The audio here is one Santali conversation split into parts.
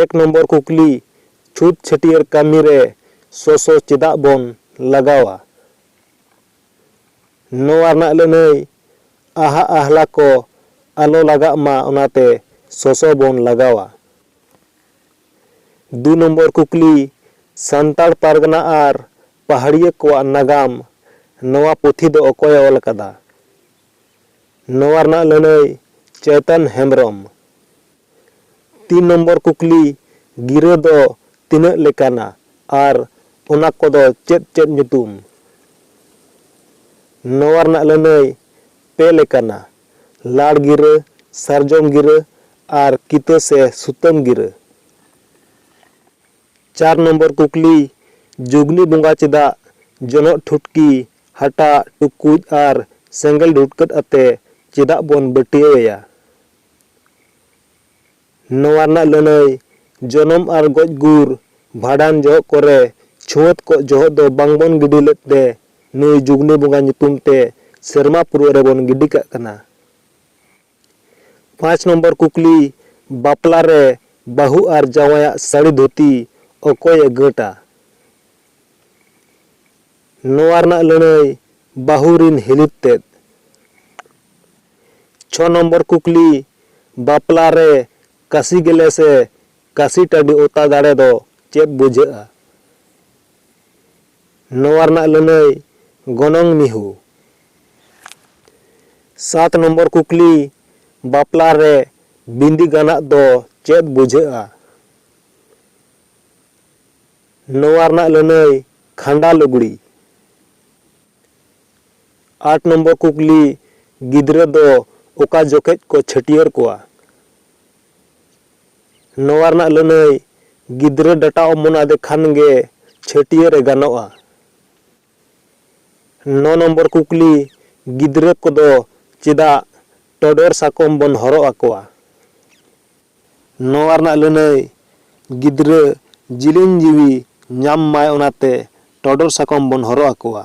ᱮᱠ ᱱᱚᱢᱵᱚᱨ ᱠᱩᱠᱞᱤ, ᱪᱷᱩᱛ ᱪᱷᱟᱹᱴᱭᱟᱹᱨ ᱠᱟᱹᱢᱤ ᱨᱮ ᱥᱚᱥᱚ ᱪᱮᱫᱟᱜ ᱵᱚᱱ ᱞᱟᱜᱟᱣᱟ? ᱱᱚᱣᱟ ᱨᱮᱱᱟᱜ ᱞᱟᱹᱱᱟᱹᱭ, ᱟᱦᱟᱜ ᱟᱦᱞᱟ ᱠᱚ ᱟᱞᱚ ᱞᱟᱜᱟᱜ ᱢᱟ ᱚᱱᱟᱛᱮ ᱥᱚᱥᱚ ᱵᱚᱱ ᱞᱟᱜᱟᱣᱟ᱾ ᱫᱩ ᱱᱚᱢᱵᱚᱨ ᱠᱩᱠᱞᱤ, ᱥᱟᱱᱛᱟᱲ ᱯᱟᱨᱜᱟᱱᱟ ᱟᱨ ᱯᱟᱦᱟᱲᱤᱭᱟᱹ ᱠᱚᱣᱟᱜ ᱱᱟᱜᱟᱢ ᱱᱚᱣᱟ ᱯᱩᱛᱷᱤ ᱫᱚ ᱚᱠᱚᱭᱮ ᱚᱞ ᱟᱠᱟᱫᱟ? ᱱᱚᱣᱟ ᱨᱮᱱᱟᱜ ᱞᱟᱹᱱᱟᱹᱭ ᱪᱚᱭᱛᱚᱱ ᱦᱮᱢᱵᱽᱨᱚᱢ ᱛᱤᱱ ᱱᱚᱢᱵᱚᱨ ᱠᱩᱠᱞᱤ ᱜᱤᱨᱟᱹ ᱫᱚ ᱛᱤᱱᱟᱹᱜ ᱞᱮᱠᱟᱱᱟ ᱟᱨ ᱚᱱᱟ ᱠᱚ ᱫᱚ ᱪᱮᱫ ᱪᱮᱫ ᱧᱩᱛᱩᱢ? ᱱᱚᱣᱟ ᱨᱮᱱᱟᱜ ᱞᱟᱹᱱᱟᱹᱭ ᱯᱮ ᱞᱮᱠᱟᱱᱟ, ᱞᱟᱲ ᱜᱤᱨᱟᱹ, ᱥᱟᱨᱡᱚᱢ ᱜᱤᱨᱟᱹ ᱟᱨ ᱠᱤᱛᱟᱹ ᱥᱮ ᱥᱩᱛᱟᱹᱢ ᱜᱤᱨᱟᱹ᱾ ᱪᱟᱨ ᱱᱚᱢᱵᱚᱨ ᱠᱩᱠᱞᱤ, ᱡᱩᱜᱽᱱᱤ ᱵᱚᱸᱜᱟ ᱪᱮᱫᱟᱜ ᱡᱚᱱᱚᱜ ᱴᱷᱩᱴᱠᱤ, ᱦᱟᱴᱟᱜ, ᱴᱩᱠᱩᱡ ᱟᱨ ᱥᱮᱸᱜᱮᱞ ᱰᱷᱩᱴᱠᱟᱹᱫ ᱟᱛᱮ ᱪᱮᱫᱟᱜ ᱵᱚᱱ ᱵᱟᱹᱴᱭᱟᱹᱣ ᱮᱭᱟ? ᱱᱚᱣᱟ ᱨᱮᱱᱟᱜ ᱞᱟᱹᱱᱟᱹᱭ, ᱡᱚᱱᱚᱢ ᱟᱨ ᱜᱚᱡ ᱜᱩᱨ, ᱵᱷᱟᱰᱟᱱ ᱡᱚᱦᱚᱜ ᱠᱚᱨᱮ ᱪᱷᱩᱣᱟᱹᱛ ᱠᱚᱜ ᱡᱚᱦᱚᱜ ᱫᱚ ᱵᱟᱝ ᱵᱚᱱ ᱜᱤᱰᱤ ᱞᱮᱫ ᱛᱮ ᱱᱩᱭ ᱡᱩᱜᱽᱱᱤ ᱵᱚᱸᱜᱟ ᱧᱩᱛᱩᱢ ᱛᱮ ᱥᱮᱨᱢᱟ ᱯᱩᱨᱟᱹ ᱨᱮ ᱵᱚᱱ ᱜᱤᱰᱤ ᱠᱟᱜ ᱠᱟᱱᱟ᱾ ᱯᱟᱸᱪ ᱱᱚᱢᱵᱚᱨ ᱠᱩᱠᱞᱤ, ᱵᱟᱯᱞᱟ ᱨᱮ ᱵᱟᱹᱦᱩ ᱟᱨ ᱡᱟᱶᱟᱭᱟᱜ ᱥᱟᱹᱲᱤ ᱫᱷᱩᱛᱤ ᱚᱠᱚᱭ ᱮ ᱜᱟᱹᱴᱼᱟ? ᱱᱚᱣᱟ ᱨᱮᱱᱟᱜ ᱞᱟᱹᱱᱟᱹᱭ, ᱵᱟᱹᱦᱩ ᱨᱤᱱ ᱦᱤᱞᱤᱛ ᱛᱮᱫ᱾ ᱪᱷᱚ ᱱᱚᱢᱵᱚᱨ ᱠᱩᱠᱞᱤ, ᱵᱟᱯᱞᱟ ᱨᱮ ᱠᱟᱹᱥᱤ ᱜᱮᱞᱮ ᱥᱮ ᱠᱟᱹᱥᱤ ᱴᱟᱹᱰᱤ ᱚᱛᱟ ᱫᱟᱲᱮ ᱫᱚ ᱪᱮᱫ ᱵᱩᱡᱷᱟᱹᱜᱼᱟ? ᱱᱚᱣᱟ ᱨᱮᱱᱟᱜ ᱞᱟᱹᱱᱟᱹᱭ ᱜᱚᱱᱚᱝ ᱢᱤᱦᱩ᱾ ᱥᱟᱛ ᱱᱚᱢᱵᱚᱨ ᱠᱩᱠᱞᱤ, ᱵᱟᱯᱞᱟ ᱨᱮ ᱵᱤᱸᱫᱤ ᱜᱟᱱᱟᱜ ᱫᱚ ᱪᱮᱫ ᱵᱩᱡᱷᱟᱹᱜᱼᱟ? ᱱᱚᱣᱟ ᱨᱮᱱᱟᱜ ᱞᱟᱹᱱᱟᱹᱭ ᱠᱷᱟᱸᱰᱟ ᱞᱩᱜᱽᱲᱤ᱾ ᱟᱴ ᱱᱚᱢᱵᱚᱨ ᱠᱩᱠᱞᱤ, ᱜᱤᱫᱽᱨᱟᱹ ᱫᱚ ᱚᱠᱟ ᱡᱚᱠᱷᱮᱡ ᱠᱚ ᱪᱷᱟᱹᱴᱭᱟᱹᱨ ᱠᱚᱣᱟ? ᱱᱚᱣᱟ ᱨᱮᱱᱟᱜ ᱞᱟᱹᱱᱟᱹᱭ ᱜᱤᱫᱽᱨᱟᱹ ᱰᱟᱴᱟ ᱚᱢᱚᱱ ᱟᱫᱮ ᱠᱷᱟᱱ ᱜᱮ ᱪᱷᱟᱹᱴᱭᱟᱹᱨ ᱮ ᱜᱟᱱᱚᱜᱼᱟ᱾ ᱱᱚ ᱱᱚᱢᱵᱚᱨ ᱠᱩᱠᱞᱤ, ᱜᱤᱫᱽᱨᱟᱹ ᱠᱚᱫᱚ ᱪᱮᱫᱟᱜ ᱴᱚᱰᱚᱨ ᱥᱟᱠᱚᱢ ᱵᱚᱱ ᱦᱚᱨᱚᱜ ᱟᱠᱚᱣᱟ? ᱱᱚᱣᱟ ᱨᱮᱱᱟᱜ ᱞᱟᱹᱱᱟᱹᱭ ᱜᱤᱫᱽᱨᱟᱹ ᱡᱤᱞᱤᱧ ᱡᱤᱣᱤ ᱧᱟᱢ ᱢᱟᱭ ᱚᱱᱟᱛᱮ ᱴᱚᱰᱚᱨ ᱥᱟᱠᱚᱢ ᱵᱚᱱ ᱦᱚᱨᱚᱜ ᱟᱠᱚᱣᱟ᱾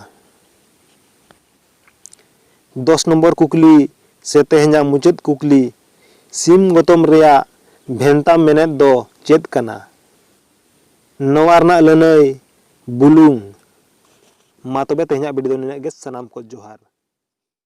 ᱫᱚᱥ ᱱᱚᱢᱵᱚᱨ ᱠᱩᱠᱞᱤ ᱥᱮ ᱛᱮᱦᱮᱧᱟᱜ ᱢᱩᱪᱟᱹᱫ ᱠᱩᱠᱞᱤ, ᱥᱤᱢ ᱜᱚᱛᱚᱢ ᱨᱮᱭᱟᱜ ᱵᱷᱮᱱᱛᱟ ᱢᱮᱱᱮᱛ ᱫᱚ ᱪᱮᱫ ᱠᱟᱱᱟ? ᱱᱚᱣᱟ ᱨᱮᱱᱟᱜ ᱞᱟᱹᱱᱟᱹᱭ, ᱵᱩᱞᱩᱝ᱾ ᱢᱟ ᱛᱚᱵᱮ ᱛᱮᱦᱮᱧᱟᱜ ᱵᱤᱰᱤᱭᱳ ᱫᱚ ᱱᱤᱱᱟᱹᱜ ᱜᱮ᱾ ᱥᱟᱱᱟᱢ ᱠᱚ ᱡᱚᱦᱟᱨ᱾